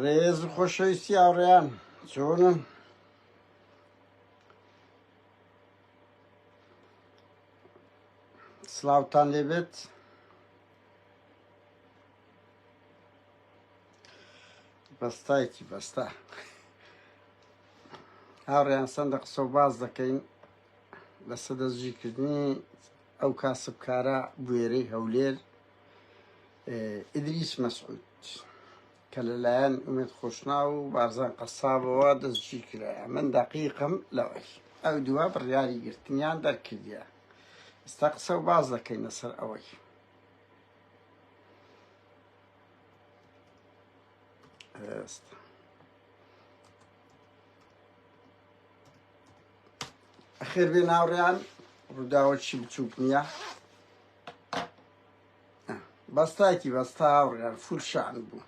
ڕێز خۆشەویستی هاوڕێیان چۆنن سلااوان لێبێت بەستایکی بەستا هاوڕێیان سندە قسە و باز دەکەین لەسە دەستگیرکردنی ئەو کاسبکارە بوێرەی هەولێر ئیدریس مەسعود کە لەلایەن ئومێد خۆشنا و بارزان قەسابەوە دەستگیر کرا من دەقیقم لەوەی ئەو دووە بڕیاری گرتنیان دەرکردە ئستا قسە و باز دەکەین لەسەر ئەوەی ئێستا خێر بێ ناوڕیان ڕووداوەکی بچووک نییە بەستایکی بەستا هاوڕیان فولشان بوو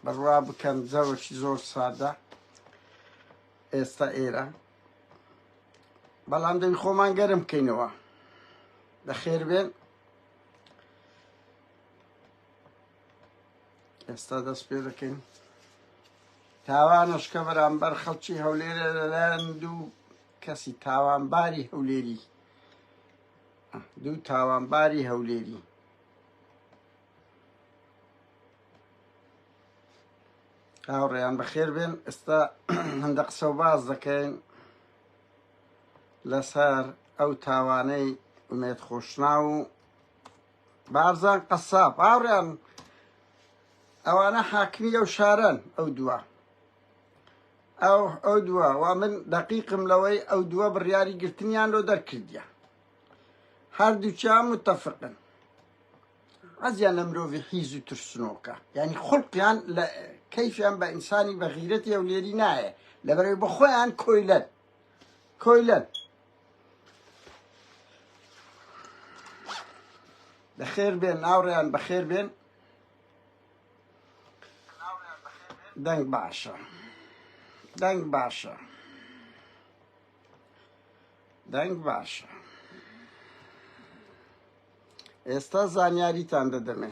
بڕوا بکەن جەوەکی زۆر سادە ئێستا ئێرە بەڵام دەوی خۆمان گەرم بکەینەوە دەخێر بێن ئێستا دەست پێ دەکەین تاوانش کە بەرامبەر خەڵکی هەولێرە لەلایەن دوو کەسی تاوانباری هەولێری دوو تاوانباری هەولێری هاوڕێیان بەخێر بێن ئێستا هەندە قسە و باز دەکەین لەسەر ئەو تاوانەی ئومێت خۆشنا و بارزان قەساب هاوڕیان ئەوانە حاکمی ئەو شارەن ئەو دووە ئەو ئەو دووە و من دقیقم لەوەی ئەو دووە بڕیاری گرتنیان لۆ دەرکردە هەردووچیان متتەفقن عزیان لە مرۆڤی حیز و ترسنۆکە یعنی خڵقیان لە کەیفیان بە ئینسانی بە غیرەتی ئەو لێری نایە لەبەرەوەی بە خۆیان کۆیلەن کۆیلەن بەخێر بێن ناوڕیان بەخێر بێن دەنگ باشە دەنگ باشە دەنگ باشە ئێستا زانیاریتان دەدەمێ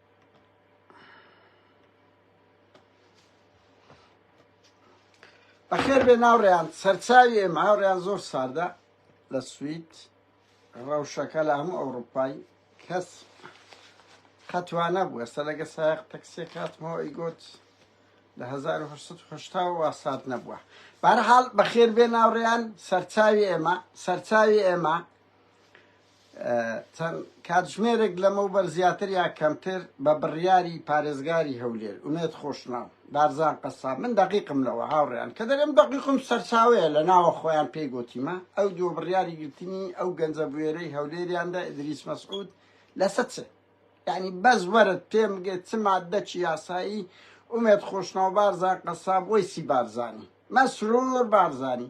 بەخێر بێ ناوڕێیان سەرچاوی ئێمە هاوڕێیان زۆر ساردە لە سوید ڕەوشەکە لە هەموو ئەوروپای کەس خەتوانە بوو ئێستا لەگە سایق تەکسێک هاتمەوە ئیگوت لە 1970 وا سات نەبووە بارحاڵ بەخێر بێ ناوڕێیان سەرچاوی ئێمە سەرچاوی ئێمە چەند کاتژمێرێک لەمەوبەر زیاتر یا کەمتر بە بڕیاری پارێزگاری هەولێر، ئومێد خۆشناو، بارزان قەساب، من دەقیقم لەوە هاوڕێیان کە دەرێم دەقیقم سەرچاوەیە لە ناوە خۆیان پێی گۆتیمە ئەو دووە بڕیاری گرتنی ئەو گەنجە بوێرەی هەولێریان دە ئیدریس مەسعود لەسە چ یعنی بەس وەرت پێم بگێت چ مادەکی یاسایی ئومێد خۆشناو بارزان قەساب وەیسی بارزانی مەسرور بارزانی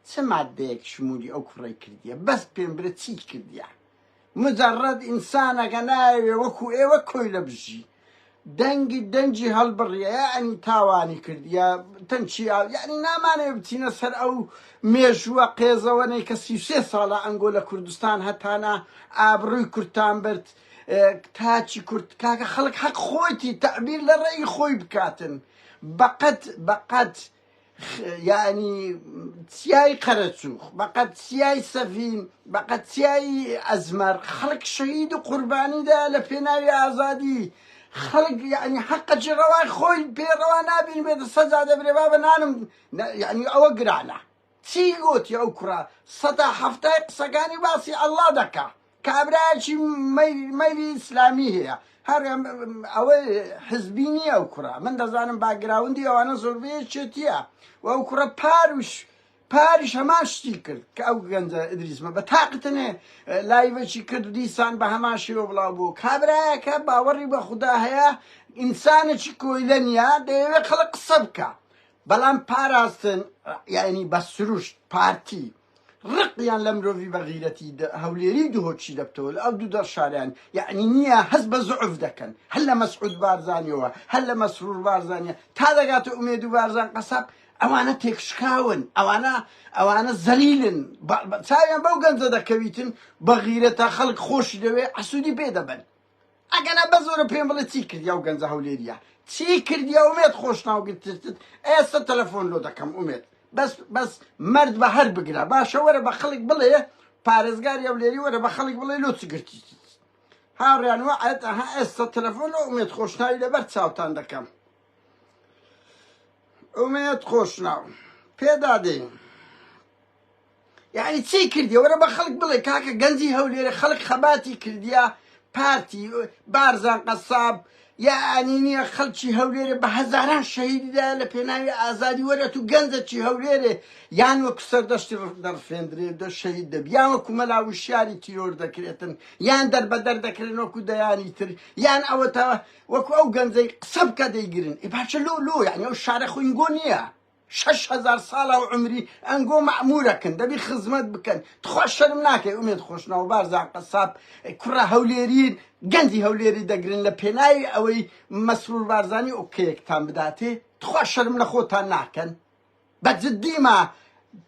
چ مادەیەک شمولی ئەو کوڕەی کردیە بەس پێم برە چی کردیە مجرد ئینسانەکە نایەوێ وەکو ئێوە کۆیلە بژی دەنگی دەنجی هەڵبڕیە یعنی تاوانی کردیە تەنچی ئاو یعنی نامانێ بچینە سەر ئەو مێژووە قێزەوەنەی کە سی سێ ساڵە ئەنگۆ لە کوردستان هەتانە ئابڕووی کورتان برد تاچی کورت کاکە خەڵک حەق خۆیتی تەعبیر لە ڕێی خۆی بکاتن بەقەت بەقەت یانی چیای قەرەچوخ بەقەت چیای سەفین بەقەت چیای ئەزمەر خەڵک شەهید و قوربانیدا لە پێناوی ئازادی خەڵک یعنی حەقەجی ڕەوای خۆی پێڕەوا نابین بێت سەزا دەبرێ بابە نانم یعنی ئەوە گرانە چی گۆتی ئەو کوڕە سەتا حەفتای قسەکانی باسی اللە دەکا کابرایەکی مەیلی ئیسلامی هەیە هەر ئەوە حزبی نییە ئەو کوڕە من دەزانم باگراوندی ئەوانە زۆربەیە چێتیە و ئەو کوڕە پاروش پاریش هەمان شتی کرد کە ئەو گەنجە ئدریسمە بە تاقتنێ لایڤەکی کرد دیسان بە هەمان شێوە بڵاو بوو کابراایەکە باوەڕی بە خوددا هەیە ئینسانێکی کۆیلە نیە دەیەوێت خەڵک قسە بکە بەڵام پاراستن یانی بە سروشت پارتی ڕقیان لە مرۆڤی بە غیرەتی هەولێری دهۆکی دەبتەوە لە ئەو دوو دەڕ شاریان یانی نییە هەست بە زعف دەکەن هەر لە مەسعود بارزانیەوە هەر لە مەسرور بارزانیە تا دەگاتە ئومێد و بارزان قەساب ئەوانە تێکشکاون ئەوانە ئەوانە زەلیلن چاویان بەو گەنجە دەکەویتن بە غیرەتە خەڵک خۆشی دەوێ عسوودی پێ دەبن ئەگەنا بەزۆرە پێم بڵێ چی کردی ئەو گەنجە هەولێریە چی کردی ئەومێت خۆشناو گرتتت ئێستا تەلەفۆن لۆ دەکەم ئومێت بەس بەس مەرد بە هەر بگرە باشە وەرە بە خەڵک بڵێ پارێزگاری ئەولێری وەرە بە خەڵک بڵێ لۆ چی گرتیت هاوڕیان وە ئەت ئەها ئێستا تەلەفۆن لۆ ئومێت خۆشناوی لەبەر چاوتان دەکەم ئومێت خۆشناو پێدادەین یعنی چی کردی وەرە بە خەڵک بڵێ کاکە گەنجی هەولێرە خەڵک خەباتی کردیا پارتی بارزان قەساب یعنی نییە خەڵکی هەولێرە بە هەزاران شەهیددا لە پێناوی ئازادی وەرە تو گەنجەکی هەولێرێ یان وەکو سەردەشتی دەڕفێندرێ دە شەهید دەبی یان وەکو مەلا وشیاری تیرۆر دەکرێتن یان دەربەدەر دەکرێن وەکو دەیانی تر یان ئەوەتەوە وەکو ئەو گەنجەی قسە بکە دەیگرن ئێ باچە لۆ لۆ یعنی ئەو شارە خوینگۆ نییە شەش هەزار ساڵە و عومری ئەنگۆ مەعمورەکن دەبی خزمەت بکەن تخوا شەرم ناکەی ئومێد خۆشناو بارزان قەساب کوڕە هەولێرین گەنجی هەولێری دەگرن لە پێناوی ئەوەی مەسرور بارزانی ئۆکەیەکتان بداتێ تخوا شەرم لە خۆتان ناکەن بە جدیمە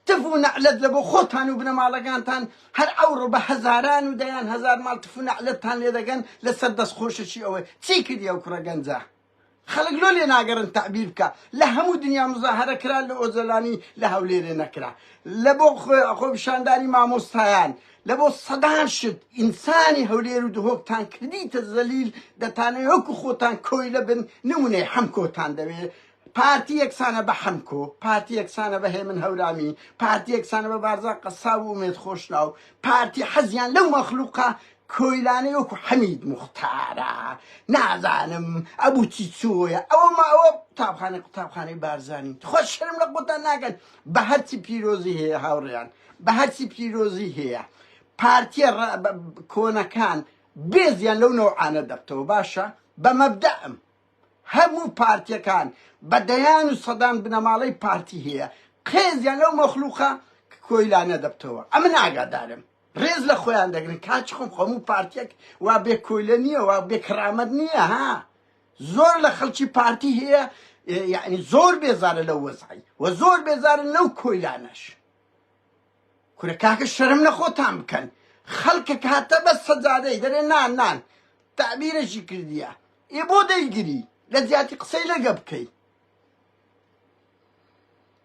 تف و نەعلەت لە بۆ خۆتان و بنەماڵەکانتان هەر ئەوڕۆ بە هەزاران و دەیان هەزار ماڵ تف و نەعلەتتان لێ دەگەن لەسەر دەست خۆشەکی ئەوەی چی کردی ئەو کوڕە گەنجە خەلک لۆ لێناگەرن تەعبیر بکە لە هەموو دنیا مزاهەرە کرا لە ئۆجەلانی لە هەولێرێ نەکرا لە بۆ خۆپیشاندانی مامۆستایان لە بۆ سەدان شت ئینسانی هەولێر و دهۆک تان کردیتە زەلیل دەتانێ وەکو خۆتان کۆی لە بن نمونەی حەمکۆتان دەوێ پارتی یەکسانە بە حەمکۆ پارتی یەکسانە بە هێمن هەورامی پارتی یەکسانە بە بارزان قەساب و ئومێد خۆشناو پارتی حەزیان لەو مەخلوقە کۆیلانەی وەکو حەمید موختارە نازانم ئەبوو چی چۆیە ئەوە ما ئەوە قوتابخانە قوتابخانەی بارزانین تخوا شەرم لە قوتان ناکەن بە هەرچی پیرۆزی هەیە هاوڕیان بە هەرچی پیرۆزی هەیە پارتیە کۆنەکان بێزیان لەو نەوعانە دەبتەوە باشە بە مەبدەم هەموو پارتیەکان بە دەیان و سەدان بنەماڵەی پارتی هەیە قێزیان لەو مەخلوقە کۆیلانە دەبتەوە ئەمە ناگادارم ڕێز لە خۆیان دەگرن کاچ خۆم خۆموو پارتیەک وا بێ کۆیلە نییە وا بێ کڕامەت نییە ها زۆر لە خەڵکی پارتی هەیە یعنی زۆر بێزارە لە وەزعی و زۆر بێزارن لەو کۆیلانەش کورە کاکە شەرم نەخۆتان بکەن خەڵکە کاتە بە سەجادەی دەرێ نان نان تعبیرەشی کردیە ئێ بۆ دەیگری لە زیاتی قسەی لەگە بکەیت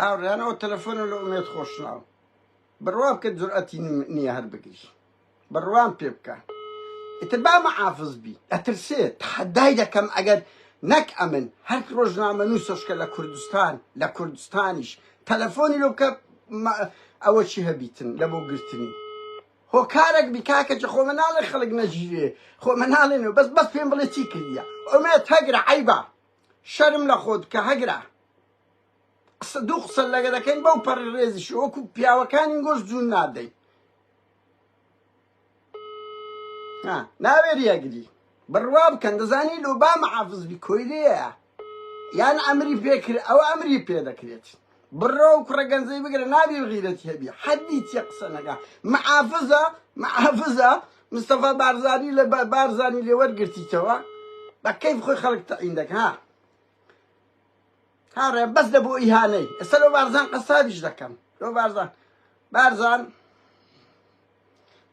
ئاوریان ئەو تەلەفۆنە لە ئومێت خۆشناو بڕوا بکە جورئەتی نییە هەر بگریش بڕوان پێ بکە ئیتر با مەعافز بی ئەترسێ تحدای دەکەم ئەگەر نەک ئەمن هەر ڕۆژنامە نووسشکە لە کوردستان لە کوردستانیش تەلەفۆنی لۆ بکە ئەوە چی هەبیتن لە بۆ گرتنی هۆکارەک بی کاکە جی خۆ من ناڵێ خەڵک نەژیرێ خۆ من ناڵێ نو بەس بەس پێم بڵێ چی کردیە ئومێد هەگرە عەیبە شەرم لە خۆت کە هەگرە قسە دوو قسە لەگە دەکەین بەو پەڕ ڕێزیش وەکو پیاوەکانی گۆش جوون نادەین ناوێری ئەگری بڕوا بکەن دەزانی لۆ با مەعافزبی کۆیلەیە یان ئەمری پێکرد ئەو ئەمری پێ دەکرێت بڕۆ و کوڕە گەنجەی بگرە نابی غیرەتی هەبی حەدی چیە قسە نەکە معافزە معافزە مستەفا بارزانی لە بارزانی لێ وەرگرتیتەوە بە کەیف خۆی خەڵک تەعین دەکە هاڕێ بەس لە بۆ ئیهانەی ئێستا لەو بارزان قەسابیش دەکەم لۆ بارزان بارزان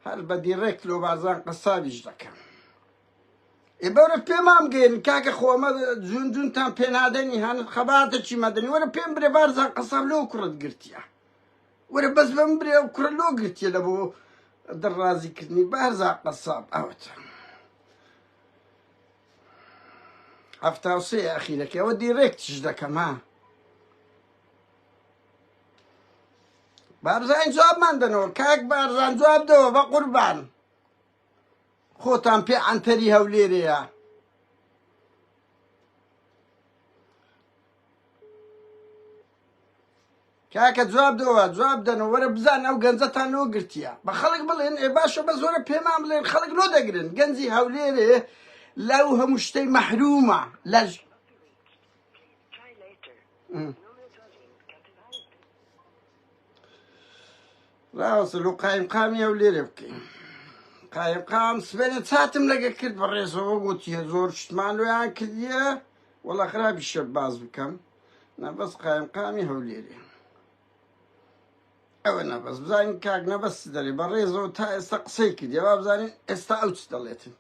هەر بە دیڕێک لۆ بارزان قەسابیش دەکەم ای بەورە پێمان بگەین کاکە خۆمە جون جونتان پێنادەنی هەن خەباتێکی مەدەنی وەرە پێم برێ بارزان قەسەر لۆ کوڕت گرتیە وەرە بەس بەم برێ و کوڕە لۆ گرتیە لە بۆ دڕازیکردنی بارزان قەساب ئەوەتە هەفتا و سێ ئەخیرەکەی ئەوە دیرێک تیش دەکەم ها بارزان جوابمان دەنەوە کاک بارزان جواب دەوە بە قوربان خۆتان پێ عەنتەری هەولێرەیە. کاکە جواب دەوە جواب دەن و وەرە بزان ئەو گەنجەتان لۆ گرتیە بە خەڵک بڵێن ئێ باشە بە زۆرە پێمان بڵێن خەڵک لۆ دەگرن گەنجی هەولێرێ لەو هەموو شتەی مەحرومە لە لاوەسە لۆ قایم قامی ئەو لێرە بکەین قایم قام سبێنە چاتم لەگە کرد بە ڕێزەوە گوتیە زۆر شتمان لۆیان کردیە وەڵا خراپی شە باز بکەم نەبەس قایم قامی هەولێرێ ئەوە نەبەس بزانین کاک نەبەست دەێ بە ڕێزەوە تا ئێستا قسەی کردی وا بزانین ئێستا ئەو چ دەڵێتن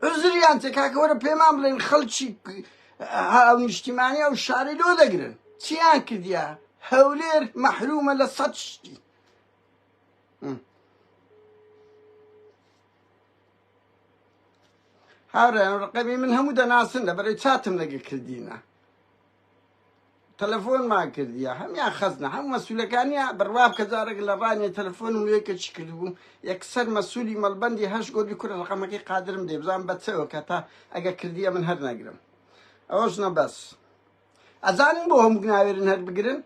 عزریان تێ کاکە وەرە پێمان بڵێن خەڵکی نیشتیمانی ئەو شارەی لۆ دەگرن چیان کردیا هەولێر مەحرومە لە سەد شتی هاورێن ڕقەمی من هەموو دەناسن لە بەرەی چاتم لەگە کردینە تەلەفۆنمان کردیە هەمیان خەزنە هەم مەسولەکانیا بڕوابکە جارێک لە ڕانیە تەلەفۆنم لێ کە چی کردبوو یەکسەر مەسولی مەلبەندی هەش گۆدی کورە ڕقەمەکەی قادرم دێ بزان بەچەوە کە تا ئەگە کردیە من هەر نەگرم ئەوەش نە بەس ئەزانن بۆ هەموو ناوێرن هەر بگرن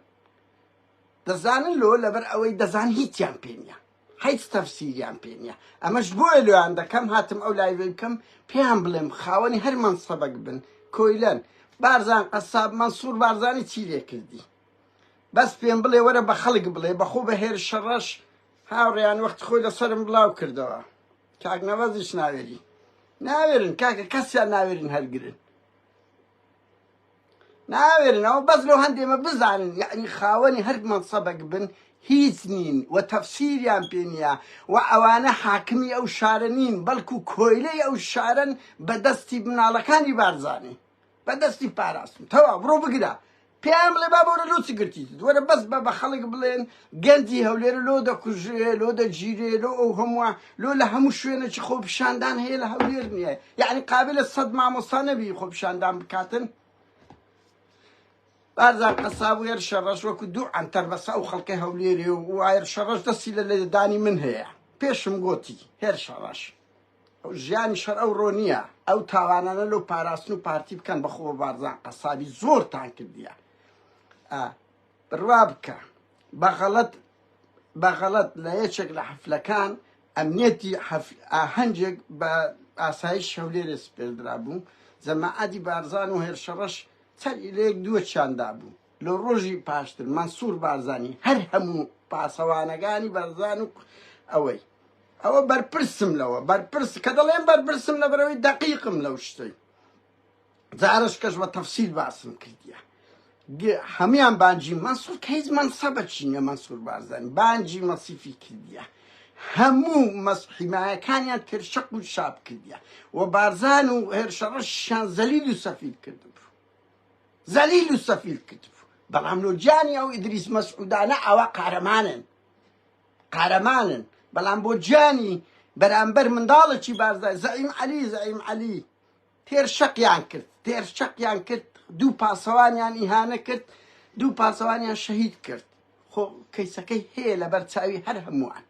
دەزانن لۆ لەبەر ئەوەی دەزان هیچیان پێ نیە هیچ تەفسیریان پێ نییە ئەمەش بۆیە لۆیان دەکەم هاتم ئەو لایڤەی بکەم پێیان بڵێم خاوەنی هەر مەنسەبەک بن کۆیلەن بارزان قەساب مەنسوور بارزانی چی لێ کردی بەس پێم بڵێ وەرە بە خەڵک بڵێ بەخۆ بە هێر شەڕەش هاوڕێیان وەخت خۆی لەسەرم بڵاو کردەوە کاک نەوەزیش ناوێری ناوێرن کاکە کەسیان ناوێرن هەرگرن ناوێرنەوە بەس لەو هەندێمە بزانن یعنی خاوەنی هەر مەنسەبەک بن هیچ نین و تەفسیریان پێ نییە و ئەوانە حاکمی ئەو شارە نین بەڵکو کۆیلەی ئەو شارن بە دەستی مناڵەکانی بارزانانی بە دەستی پاراستن تەوا بڕۆ بگرە پێیان بڵێ با بۆرە لۆچ گرتیت وەرە بەس بە بە خەڵک بڵێن گەنجی هەولێر لۆ دەکوژرێ لۆ دەگیرێ لۆ ئەو هەمووە لۆ لە هەموو شوێنێکی خۆپیشاندان هەیە لە هەولێر نییە یعنی قابلە سەد مامۆستا نەبی خۆپیشاندان بکاتن بارزان قەساب و هێرشە ڕەش وەکو دوو ئەنتەر بەسە ئەو خەڵکی هەولێرێ و وایرشە ڕەش دەستی لە لێدانی من هەیە پێشم گۆتی هێرشە ڕەش ژیانی شەر ئەو ڕۆ نییە ئەو تاوانانە لەو پاراستن و پارتی بکەن بەخۆ بارزان قەسابی زۆرتان کردیە بڕوا بکە بە غەڵەت بە غەڵەت لە یەکێک لە حەفلەکان ئەمنیەتی ئاهەنگێک بە ئاسایش هەولێرێ سپێردرا بوو جەماعەتی بارزان و هێرشەڕەش سەری لە یەک دووە چیاندا بوو لە ڕۆژی پاشتر مەنسوور بارزانی هەر هەموو پاسەوانەکانی بارزان و ئەوەی ئەوە بەرپرسم لەوە بەرپرس کە دەڵێن بەرپرسم لە بەرەوەی دەقیقم لەو شتەی جارش کەش بە تەفسیل باسم کردیە گ هەمیان بانجی مەنسور کە هیچ مەنسەبە چی نیە مەنسور بارزانی بانجی مەسیفی کردیە هەموو مەس حیمایەکانیان ترشەق و شاب کردیە و بارزان و هێرشەڕەشیان زەلیل و سەفیل کردبوو زەلیل و سەفیل کردبوو بەڵام لۆجیانی ئەو ئیدریس مەسعودانە ئەوە قارەمانن قارەمانن بەڵام بۆ جیانی بەرامبەر منداڵێکی بارزای زەعیم عەلی زەعیم عەلی تێر شەقیان کرد تێر شەقیان کرد دوو پاسەوانیان ئیهانە کرد دوو پاسەوانیان شەهید کرد خۆ کەیسەکەی هەیە لەبەر چاوی هەر هەمووان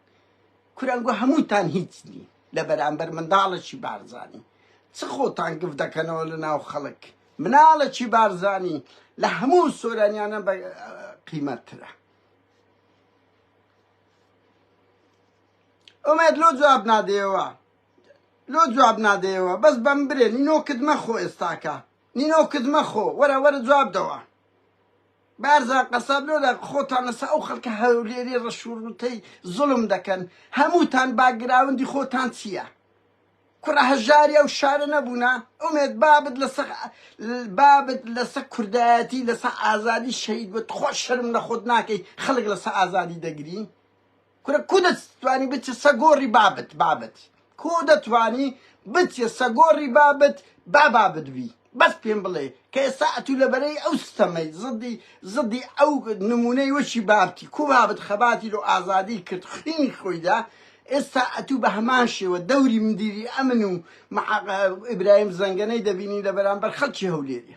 کورانگوە هەمووتان هیچ نی لە بەرامبەر منداڵەکی بارزانی چ خۆتان گف دەکەنەوە لە ناو خەڵک مناڵەکی بارزانی لە هەموو سۆرانیانە بە قیمەترە ئۆمێد لۆ جواب نادەیەوە لۆ جواب نادەیەوە بەس بەم برێ نینۆکت مەخۆ ئێستاکە نینۆکت مەخۆ وەرە وەرە جواب دەوە بارزان قەساب لۆدا خۆتان لەسە ئەو خەڵکە هەولێری ڕەشوڕوتەی زڵم دەکەن هەمووتان باگراوندی خۆتان چییە کوڕە هەژاری ئەو شارە نەبوونا ئومێت بابت لەسە بابت لەسە کوردایەتی لەسە ئازادی شەید بە تخۆ شەرم لە خۆت ناکەی خەڵک لەسە ئازادی دەگری کورە کو دە توانی بچە سە گۆ ری بابت بابت کو دە توانی بچە سە گۆ ری بابت با بابت بی بەس پێم بڵێ کە ئێستا ئەتوو لە بەرەی ئەو ستەمەی زدی زدی ئەو نمونەی وەکی بابتی کو بابت خەباتی لۆ ئازادی کرد خوینی خۆیدا ئێستا ئەتوو بە هەمان شێوە دەوری مدیری ئەمن و ئیبراهیم زەنگەنەی دەبینی لە بەرامبەر خەڵکی هەولێری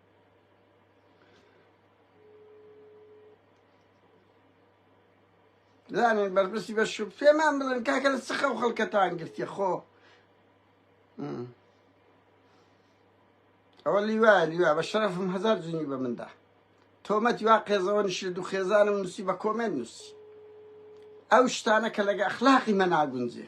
زانێ بەرپرسی بە شو پێمان بڵێن کاکە لە سخە و خەڵکەتان گرتیە خۆ ئەوە لیوا لیوا بە شەرفم هزار جنی بە مندا تۆمەتی وا قێزەوە نشر دوو خێزانم نووسی بە کۆمێن نووسی ئەو شتانە کە لەگە ئەخلاقی مە ناگونجێ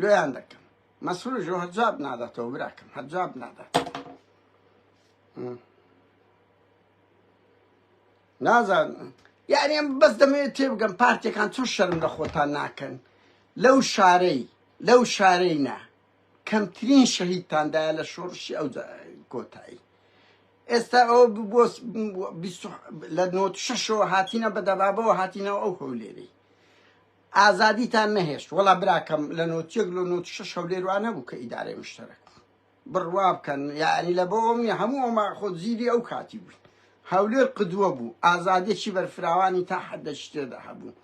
لۆیان دەکەم مەسروش و هەرجاب ناداتەوە براکەم هەرجاب نادات نازان یعنی ئەم بەس دەمەوێت تێبگەم پارتێکان چۆن شەرم لە خۆتان ناکەن لەو شارەی لەو شارەی نا کەمترین شەهیدتاندایە لە شۆڕشی ئەو کۆتایی ئێستا ئەو بۆ لە نۆ شەشەوە هاتینە بە دەبابەوە هاتینەوە ئەو هەولێری ئازادیتان نەهێشت وەڵا براکەم لە نۆت یەک لۆ نۆت شەش هەولێر وا نەبوو کە ئیدارەی مشتەرەک بڕوا بکەن یعنی لە بۆ ئەوم نیە هەموو ئەوما خۆ زیری ئەو کاتی بووین هەولێر قدووە بوو ئازادێکی بەرفراوانی تا حەدەکی تێدا هەبوو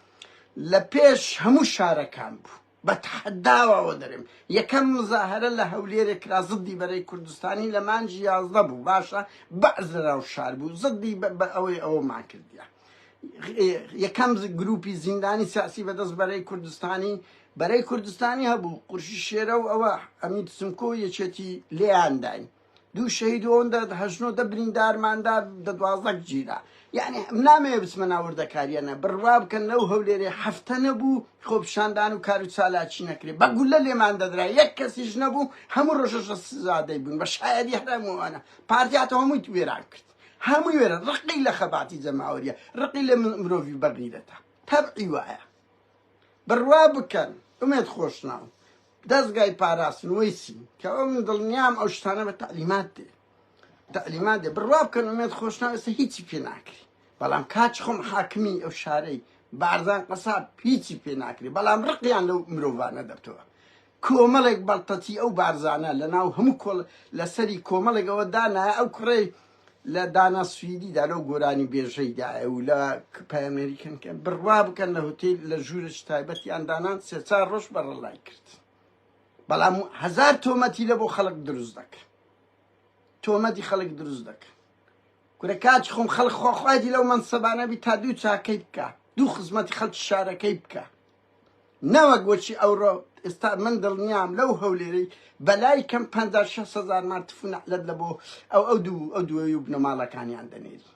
لە پێش هەموو شارەکان بوو بە تەحەداوەوە دەرێم یەکەم مزاهرە لە هەولێرێ کرا زدی بەرەی کوردستانی لە مانجی یازدە بوو باشە بەعز لە ناو شار بوو زدی بە ئەوەی ئەوەمان کردیان یەکەم گروپی زیندانی سیاسی بەدەست بەرەی کوردستانی بەرەی کوردستانی هەبوو قورشی شێرە و ئەوە ئەمین سمکۆ یەکێتی لێیانداین دوو شەهید ئەوەندە هەژنۆ دە بریندارماندا دە دوازەک گیرا یعنی نامێ بچمە ناوردەکاریانە بڕوا بکەن لەو هەولێرێ هەفتە نەبوو خۆپشاندان و کار و چالاکی نەکرێ بە گولە لێمان دەدرا یەک کەسیش نەبوو هەموو ڕۆژەشە سزادەی بوون بە شایەدی هەرمووانە پارتیاتە هەمووی وێران کرد هەمووی وێرە ڕقی لە خەباتی جەماوەریە ڕقی لە مرۆڤی بەغیرەتە تەبعی وایە بڕوا بکەن ئومێت خۆشناو دەستگای پاراستنەوەی چی کە ئەو من دڵنیام ئەو شتانە بە تعلیمات دێ تعلیمات دێ بڕوا بکەن ئومێت خۆشناو ئێستا هیچی پێ ناکری بەڵام کاچ خۆم حاکمی ئەو شارەی بارزان قەساب هیچی پێ ناکری بەڵام ڕقیان لەو مرۆڤانە دەبتەوە کۆمەڵێک بەڵتەتی ئەو بارزانە لە ناو هەموو کۆڵ لە سەری کۆمەڵێک ئەوە دانایە ئەو کوڕەی لە دانا سویدی دا لەو گۆرانی بێژەی دایە و لە پایەمێری کەنکە بڕوا بکەن لە هوتیل لە ژوورێکی تایبەتیان دانان سێ چار ڕۆژ بەڕەڵای کرد بەڵام هەزار تۆمەتی لە بۆ خەڵک دروست دەکەن تۆمەتی خەڵک دروست دەکەن کورە کاچ خۆم خەڵک خۆخوایدی لەو مەنسەبانەبی تا دوو چاکەی بکە دوو خزمەتی خەڵکی شارەکەی بکە نەوەک وەکی ئەوڕۆ ئێستا من دڵنیام لەو هەولێرەی بەلای کەم پەنجا شەست هەزار مان تف و نەعلەت لە بۆ ئەو ئەو دوو ئەو دووەی و بنەماڵەکانیان دەنێری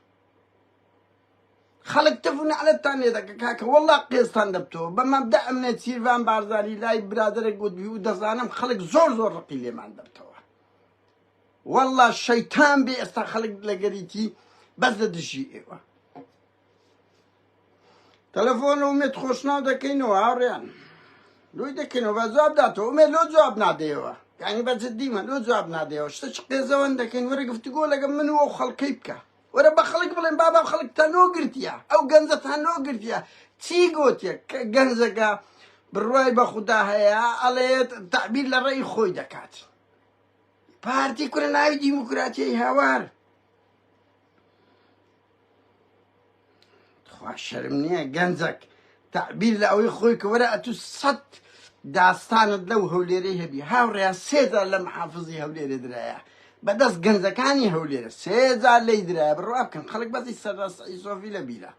خەڵک تف و نەعلەتتان لێ دەکە کاکە وەڵڵا قێزتان دەبتەوە بە مەبدا ئەمنە چیرڤان بارزانی لای برادەرێک گوت و دەزانم خەڵک زۆر زۆر ڕقی لێمان دەبتەوە وەڵڵا شەیتان بێ ئێستا خەڵک لەگەریتی بەس لە دژی ئێوە تەلەفۆن و مێت خۆشناو دەکەینەوە هاوڕێیان لۆی دەکەینەوە بە جواب داتەوە مێ لۆ جواب نادەیەوە یعنی بە جددیمە لۆ جواب نادەیەوە شتە چ قێزەوەن دەکەین وەرە گفتگۆ لەگە من و خەڵکەی بکە وەرە بە خەڵک بڵێن بابا خەڵک تەنۆ گرتیە ئەو گەنجە تەنۆ گرتیە چی گوتیە کە گەنجەکە بڕوای بە خوددا هەیە ئەڵێت تعبیر لە ڕێی خۆی دەکات پارتی کورە ناوی دیموکراتیای هاوار تخوا شەرم نییە گەنجەک تعبیر لە ئەوەی خۆی کە وەرە ئەتوو سەد داستانت لەو هەولێرەی هەبی هاوڕێیان سێجار لە محافزی هەولێرە درایە بەدەست گەنجەکانی هەولێرە سێجار لی درایە بڕوا بکەن خەڵک بەزی سەرڕاستئیسۆفی لە بیرە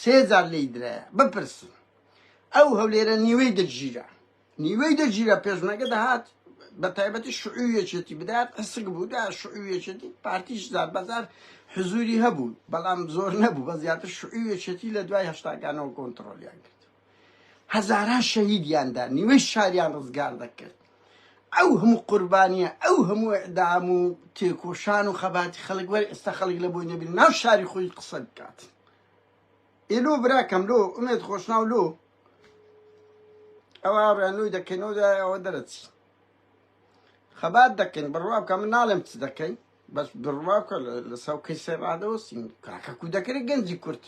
سێجار لی درایە بپرسن ئەو هەولێرە نیوەی دەگیرە نیوەی دەگیرا پێشمەرگە دەهات بە تایبەتی شعوی یەکێتی بدات ئەسک بوو دا شعوی یەکێتی پارتیش زار بەزار حزوری هەبوو بەڵام زۆر نەبوو بە زیاتر شعوی یەکێتی لە دوای هەشتاکانەوە کۆنتترۆلیان کرد هەزاران شەهیدیاندا نیوەی شاریان ڕزگار دەکرد ئەو هەموو قوربانیە ئەو هەموو ئەدام و تێکۆشان و خەباتی خەڵک وەر ئێستا خەڵک لە بۆی نەبین ناو شاری خۆی قسە بکات ئی لۆ براکەم لۆ ئومێد خۆشناو لۆ ئەوە ڕێنووی دەکەینەوە دوای ئەوە دەرەچین خەبات دەکەین بڕوا بکە من ناڵێم چ دەکەین بەس بڕوا بکە لە ساو کەیسە ڕادەوەسین کاکە کو دەکرێت گەنجی کورت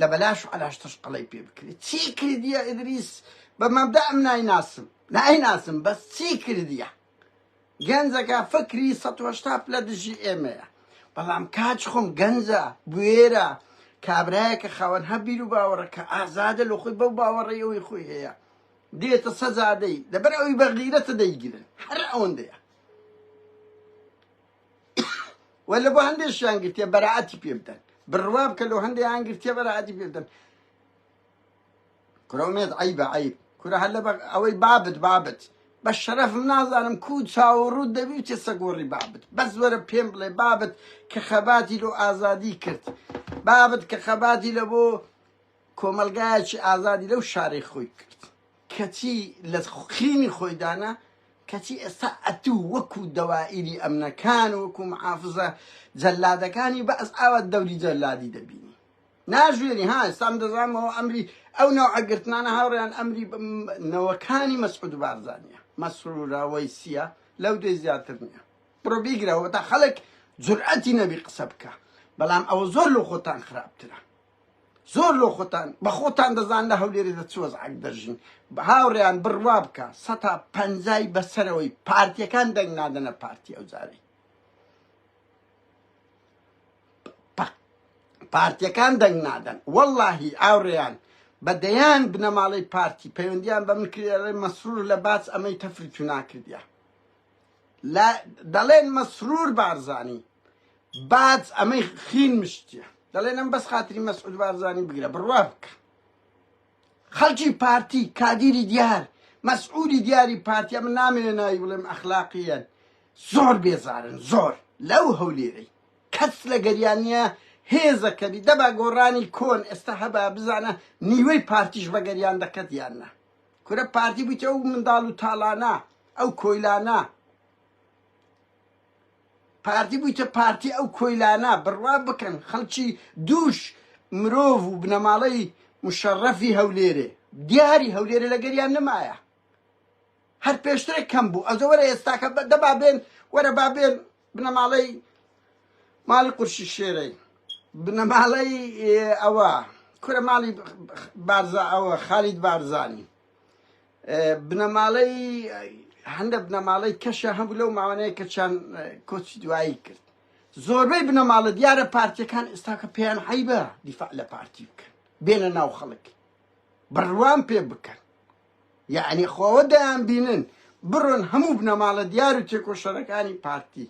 لە بەلاش علاش تشقڵی پێ بکرێت چی کردیە ئیدریس بە مەبدا ئەم نایناسم نایناسم بەس چی کردیە گەنجەکە فکری سەد و هەشتا پلە دژی ئێمەیە بەڵام کاچ خۆم گەنجە بوێرە کابرایەکە خاوەن هە بیر و باوەڕەکە ئازادە لە خۆی بەو باوەڕی ئەوی خۆی هەیە دێتە سەزادەی لەبەر ئەوی بەغیرەتە دەیگرن هەر ئەوەندەیە و لە بۆ هەندێکیان گرتێ بەرەعەتی پێ بدەن بڕوا بکە لەو هەندێکیان گرتێ بەرەعەتی پێ بدەن کورە ئومێد عەیبە عەیب کورە هەر لەبەر ئەوەی بابت بابت بە شەرەفم نازانم کو چاو و ڕووت دەبی بچێ سەگوەڕی بابت بەس وەرە پێم بڵێ بابت کە خەباتی لۆ ئازادی کرد بابت کە خەباتی لە بۆ کۆمەلگایەکی ئازادی لەو شارەی خۆی کرد کەچی لە خینی خۆی دانا کەچی ئێستا ئەتوو وەکو دەوائیری ئەمنەکان وەکو محافزە جەلادەکانی بەس ئاوا دەوری جەلادی دەبینی ناژیێنی ها ئێستام دەزانمەوە ئەمری ئەو نەوعە گرتنانە هاوڕیان ئەمری نەوەکانی مەسعود بارزانە مەسرورەوەی سیە لەو دوێ زیاتر نییە بڕۆ بیگرەوە تا خەڵک جورئەتی نەبی قسە بکە بەڵام ئەوە زۆر لە خۆتان خراپترە زۆر لۆ خۆتان بە خۆتان دەزان لە هەولێری دە چوەز عک دەژین بە هاوڕیان بڕوا بکە سەتا پەنجای بەسەرەوەی پارتیەکان دەنگ نادەنە پارتی ئەو جاری پارتیەکان دەنگ نادەن وەللەهی ئاوڕێیان بە دەیان بنەماڵەی پارتی پەیوەندیان بە من کردی مەسرور لە باچ ئەمەی تەفری تو ناکردیە لا دەڵێن مەسرور بارزانی باج ئەمەی خین مشتیە دەڵێن ئەم بەس خاتری مەسعود بارزانی بگرە بڕوا بکە خەڵکی پارتی کادیری دیار مەسئولی دیاری پارتی ئەمن نامەوێ ناوی بڵێم ئەخلاقیەن زۆر بێزارن زۆر لەو هەولێرەی کەس لە گەریانە هێزە کەبی دەبا گۆڕانی کۆن ئێستا هەبا بزانە نیوەی پارتیش بە گەریان دەکەت یاننا کورە پارتی بوویتە ئەو منداڵ و تاڵانە ئەو کۆیلانە پارتی بویتە پارتی ئەو کۆیلانە بڕوا بکەن خەڵکی دووش مرۆڤ و بنەماڵەی مشەڕەفی هەولێرێ دیاری هەولێرێ لەگەریان نمایە هەر پێشترێک کەم بوو ئەزە وەرە ئێستاکە دەبا بێن وەرە با بێن بنەماڵەی ماڵی قورشی شێرەی بنەماڵەی ئەوە کورە ماڵی بارزا ئەوە خالید بارزانی بنەماڵەی هەندە بنەماڵەی کەشە هەبوو لەو ماوانەیە کە چەند کۆچی دوایی کرد زۆربەی بنەماڵە دیارە پارتیەکان ئێستاکە پێیان حیبە دیفاع لە پارتی بکەن بێنە ناو خەڵک بڕوان پێ بکەن یعنی خۆوە دەیان بینن بڕۆن هەموو بنەماڵە دیار و تێکۆشەرەکانی پارتی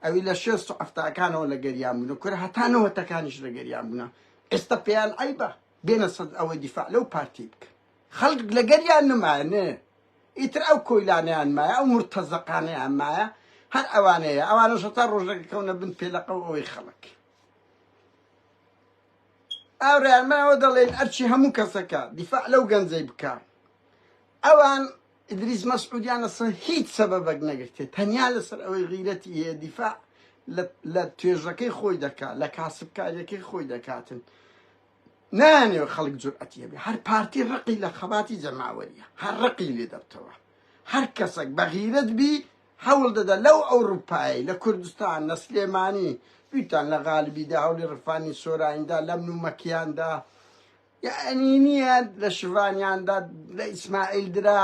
ئەوی لە شێست و ئەفتاکانەوە لە گەریان بوون کورە هەتانەوەتەکانیش لە گەریان بوونە ئێستا پێیان ئەیبە بێنە سەد ئەوەی دیفاع لەو پارتی بکەن خەڵک لەگەریان نمایە نێ ئیتر ئەو کۆیلانەیان مایە ئەو مورتەزەقانەیان مایە هەر ئەوانەیە ئەوانەش هەتا ڕۆژەکە کەونە بن پێلەقە و ئەوەی خەڵک ئاورایان مایەوە دەڵێن ئەرچی هەموو کەسەکە دیفاع لەو گەنجەی بکە ئەوان ئیدریس مەسعودیان لەسەر هیچ سەبەبەک نەگرتێت تەنیا لەسەر ئەوەی غیرەتی هەیە دیفاع لە توێژەکەی خۆی دەکات لە کاسبکاریەکەی خۆی دەکاتن نایانەوێت خەڵک جورئەتی هەبێت، هەر پارتی ڕقی لە خەباتی جەماوەرییە، هەر ڕقی لێ دەبتەوە، هەر کەسێک بە غیرەت بی هەوڵ دەدا لەو ئەوروپایەی لە کوردستان، لە سلێمانی، بیرتان لە غالبی دا، هەوڵی ڕفاندنی سۆراین دا، لەمن و مەکیان دا، یەعنی نییە لە شڤانیان دا، لە ئیسماعیل درا،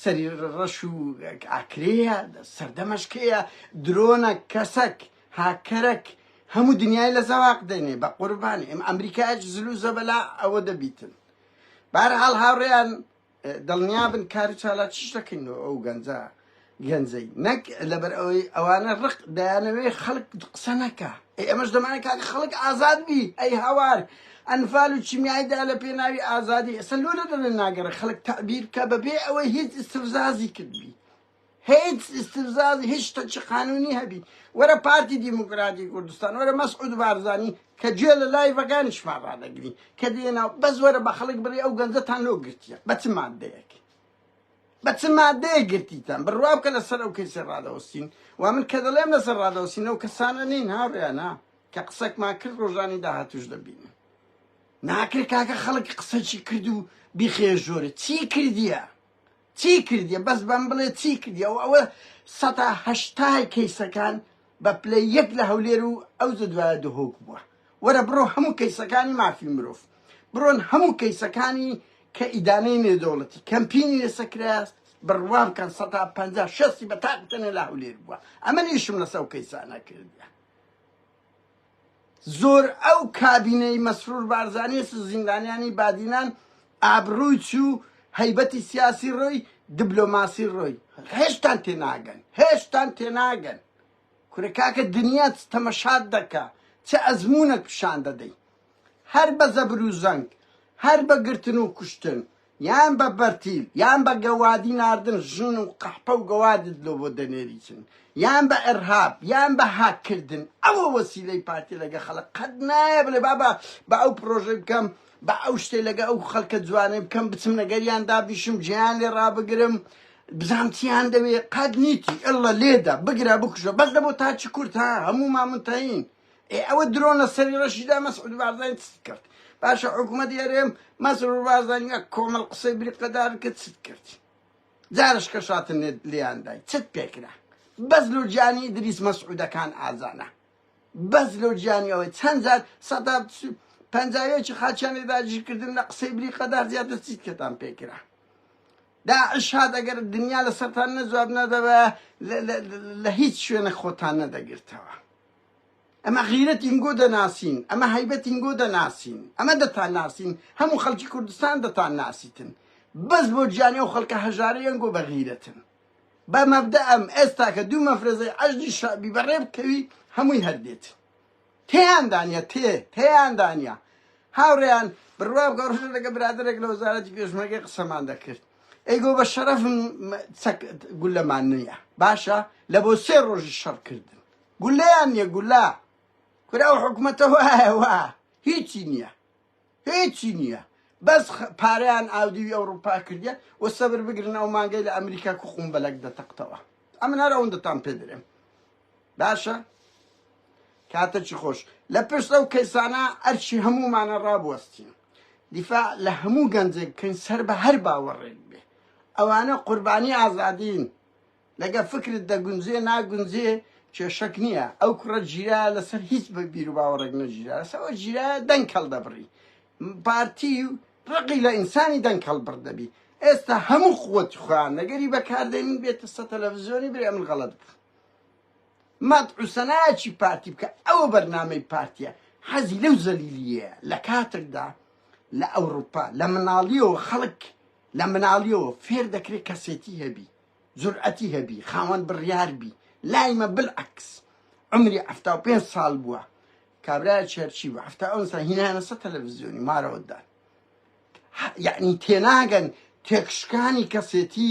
سەری ڕەش و ئاکرێیە سەردەمەش کێیە درۆنە کەسەک هاکەرەک هەموو دنیای لە زەواق دێنێ بە قوربانی ئەم ئەمریکاش زل و زەبەلا ئەوە دەبیتن بارحاڵ هاوڕێیان دڵنیا بن کار و چالا چش دەکەینەوە ئەو گەنجە گەنجەی نەک لەبەر ئەوەی ئەوانە ڕق دایانەوەی خەڵک قسە نەکە ئەی ئەمەش دەمانە کاک خەڵک ئازاد بی ئەی هاوار ئەنفال و چیمیای دا لە پێناوی ئازادی ئێستا لۆ لە دەڵێن ناگەڕێ خەڵک تەعبیر بکە بەبێ ئەوەی هیچ استفزازی کردبی هیچ استفزازی هیچ شتە چ قانونی هەبی وەرە پارتی دیموکراتی کوردستان وەرە مەسعود بارزانی کە گوێ لە لایڤەکانیشمان ڕادەگری کە دێنا بەس وەرە بە خەڵک بڕێ ئەو گەنجەتان لۆ گرتیە بە چ مادەیەک بە چ مادەیە گرتیتان بڕوا بکە لەسەر ئەو کەسی ڕادەوەستین و من کە دەڵێم لەسەر ڕادەوەستین ئەو کەسانە نین هاوڕیانە کە قسەکمان کرد ڕۆژانی داهاتوش دەبینن. ناکرێت کاکە خەڵک قسەکی کرد و بیخێ ژۆرە چی کردیە چی کردیە بەس بەم بڵێ چی کردیە و ئەوە سەتا هەشتای کەیسەکان بە پلە یەک لە هەولێر و ئەو زدوایە دهۆک بووە وەرە بڕۆ هەموو کەیسەکانی مافی مرۆڤ بڕۆن هەموو کەیسەکانی کە ئیدانەی نێدەوڵەتی کەمپینی لەسە کراس بڕوام کەن سەتا پەنجا شەستی بە تاقتەنە لە هەولێر بووە ئەمە نیشم لەسەو کەیسانە کردە زۆر ئەو کابینەی مەسرور بارزانیش و زیندانیانی بادینان ئابڕووی چوو هەیبەتی سیاسی ڕۆی دبلۆماسی ڕۆی هێشتان تێناگەن هێشتان تێناگەن کورە کاکە دنیا چ تەمەشات دەکا چ ئەزمونەک پیشان دەدەی هەر بە زەبر و زەنگ هەر بە گرتن و کوشتن یان بە بەرتیل یان بە گەوادی ناردن ژن و قەحپە و گەوادت لۆ بۆ دەنێریچن یان بە ئەرهاب یان بە هاک کردن ئەوە وەسیلەی پارتی لەگە خەڵک قەت نایە بلێ بابا بە ئەو پرۆژەی بکەم بە ئەو شتێ لەگە ئەو خەڵکە جوانەی بکەم بچم نەگەریان دابیشم جێیان لێ ڕابگرم بزام چیان دەوێ قەت نیتی ئەللە لێدە بگرە بکوژە بەس دەبۆ تاچی کورد ها هەموو مامنتەین ئێ ئەوە درۆن لە سەری ڕەشیدا مەسعود بارزانی چت کرد باشە حکوومەتی هەرێم مەسرور بارزانی وەک کۆمەڵ قسەی بریقەدار کرد چت کرد جارش کە شاتن لیاندای چت پێکرا بەس لۆ گیانی دریس مەسعودەکان ئازانە بەس لۆ گیانی ئەوەی چەند جار سەدا پەنجاوێکی خاچیانی داگیرکردن لە قسەی بریقەدار زیاتر چیت کەتان پێکرا داعش هات ئەگەر دنیا لە سەران نەجواب نەدەوە لە هیچ شوێنە خۆتان نەدەگرتەوە ئەمە غیرەتین گۆ دەناسین، ئەمە هەیبەتین گۆ دەناسین، ئەمە دەتان ناسین، هەموو خەڵکی کوردستان دەتان ناسیتن، بەس بۆ گیانی ئەو خەڵکە هەژارەیان گۆ بەغیرەتن. بە مەبدەئەم ئێستاکە دوو مەفرەزەی عەشدی شەعبی بەڕێ بکەوی هەمووی هەر دێت. تێیاندا نیە تێ تێیاندا نیە. هاوڕێیان بڕوا بکە ڕژە لەگە برادێک لە وەزارەتی پێشمەرگەی قسەمان دەکرد. ئەیگۆ بە شەرەفم گولەمان نییە باشە لە بۆ سێ ڕۆژی شەڕ کردن گولەیان نیە گولە کورە ئەو حکومەتە وایە وا هیچی نیە هیچی نیە بەس پارەیان ئاودیوی ئەوروپا کردە و سەبر بگرن ئەو مانگەی لە ئەمریکا کو قوم بەلەک دەتەقتەوە ئەمن هەر ئەوەندەتان پێ درێم باشە کاتەکی خۆش لە پشت ئەو کەیسانە ئەرچی هەمومانە ڕابوەستین دیفاع لە هەموو گەنجێک بکەین سەر بە هەر باوەڕێک بێ ئەوانە قوربانی ئازادین لەگە فکرت دەگونجێ ناگونجێ کێشەک نییە ئەو کوڕە گیرا لەسەر هیچ بە بیر و باوەڕێک نەگیرا لەسەوە گیرا دەنگ کەڵ دەبڕی پارتی و ڕقی لە ئینسانی دەنگ کەڵ بڕ دەبی ئێستا هەموو قوت خوان نەگەری بەکاردێنین بێتە سە تەلەڤزیۆنی برێ من غەڵەت بوو مات عوسەناچی پارتی بکە ئەوە بەرنامەی پارتیە حەزی لەو زەلیلیە لە کاتێکدا لە ئەوروپا لە مناڵیەوە خەڵک لە مناڵیەوە فێر دەکرێت کەسێتی هەبی جورئەتی هەبی خاوەن بڕیار بی لای مە بلعکس عەمری حەفتا و پێنج ساڵ بوە کابرایە چەرچی بە حەفتا ئەو سا هینایانە سە تەلەڤزیۆنی مارەوە دان یعنی تێناگەن تێکشکانی کەسێتی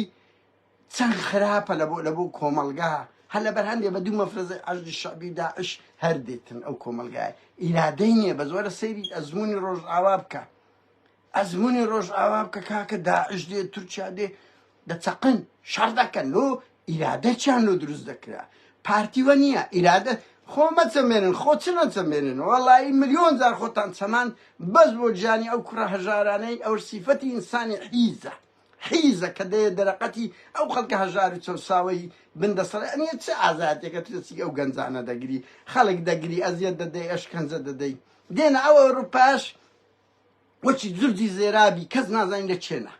چەند خراپە لە بۆ لە بۆ کۆمەلگا هەر لەبەر هەندێ بە دوو مەفرەزی عەرزی شەعبی داعش هەر دێتن ئەو کۆمەلگای ئیرادەی نییە بە زۆرە سەیری ئەزموونی ڕۆژئاوا بکە ئەزمونی ڕۆژئاوا بکە کاکە داعش دێ تورکیا دێ دەچەقن شەڕ دەکەن لۆ ئیرادە چیان لۆ دروست دەکرا پارتی وە نییە ئیرادە خۆ مەچەمێنن خۆ چ نەچەمێنن وەڵایی ملیۆن جار خۆتان چەمان بەس بۆ گیانی ئەو کوڕە هەژارانەی ئەو سیفەتی ئینسانی حیزە حیزە کە دەیە دەرەقەتی ئەو خەڵکە هەژار و چەوساوەی بن دەسەڵ ئەنیە چ ئازاتێکە ترسی ئەو گەنجانە دەگری خەڵک دەگری ئەزیەت دەدەی ئەشکەنجە دەدەی دێنە ئەو ئەوروپاش وەکی زردی زێرابی کەس نازانی لە کێنە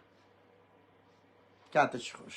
کاتە چ خۆش